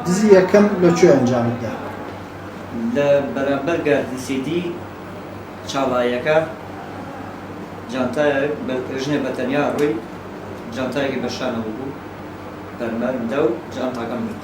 دزی یەکەم لە کوێ ئەنجامت دا؟ لە بەرامبەر گاردی سیدی چاڵایەکە جانتایەک بە- ژنێ بە تەنیا ڕووی جانتایەکی بە شانەوە بوو بەرمەرمدا و جانتاکەم گرت.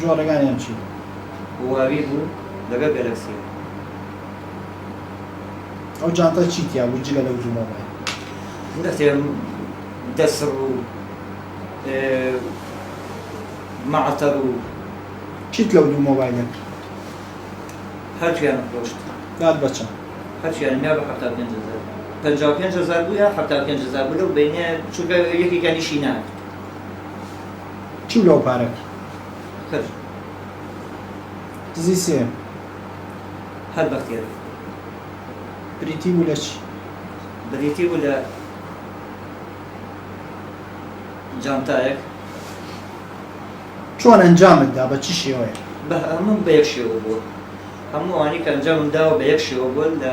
جۆرەگانیان چی بوو؟ هواوی بوو لەگەڵ گەلەکسی. ئەو جانتە چی تیا بوو جگە لەو دوو مۆبایل؟ نەتێ دەسڕ و مەعەتەڕ و. چیت لەو دوو مۆبایلە کرد؟ هەردووکیانم فرۆشت. دات بە چەند؟ هەردووکیانم یا بە حەفتا و پێنج هەزار. پەنجا و پێنج هەزار بوو یا حەفتا و پێنج هەزار بوو لەو بەینەیە چونکە یەکێکیان ئیشی ناکرد. چوو لەو پارەک هەر دزی سێ هەر بەختیاری بریتی بوو لە چی؟ بریتی بوو لە جانتایەک چۆن ئەنجامت دا بە چ شێوەیە؟ بە هەموو بە یەک شێوە بووە هەموو ئەوانەی کە ئەنجامم داوە بە یەک شێوە بووە لە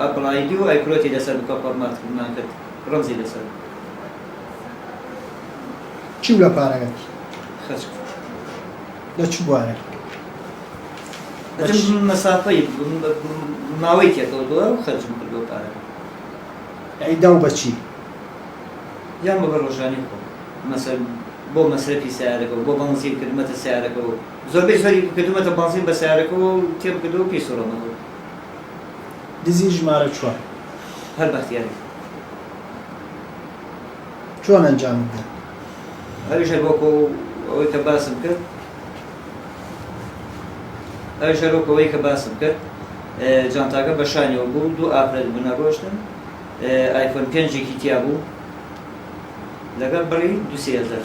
ئەپڵایدی و ئایکلۆتی لەسەر بکە فۆرمات کردمان کرد ڕەمزی لەسەر بوو. چی بوو لە پارەکەت؟ خەرج کرد. لە چ بوارێک؟ ئەتم مەسافەی ماوەی تێکەوتووە و خەرجم کردووە پارەکە. ئەی داو بە چی؟ یان بە بە ڕۆژانی خۆم مەسەل بۆ مەسرەفی سەیارەکە و بۆ بەنزین کردمەتە سەیارەکە و زۆربەی زۆری کردمەتە بەنزین بە سەیارەکەوە و تێم کردووە و پێی سووڕامەتەوە. دزی ژمارە چوار. هەر بەختیاری. چۆن ئەنجامت دا؟ ئەویش هەر وەکو ئەوەی کە باسم کرد ئەویش هەر وەکو ئەوەی کە باسم کرد جانتاکە بە شانیەوە بوو دوو ئافرەت بوون ئەڕۆشتن ئایفۆن پێنجێکی تیا بوو لەگەڵ بڕی دوو سێ هەزار.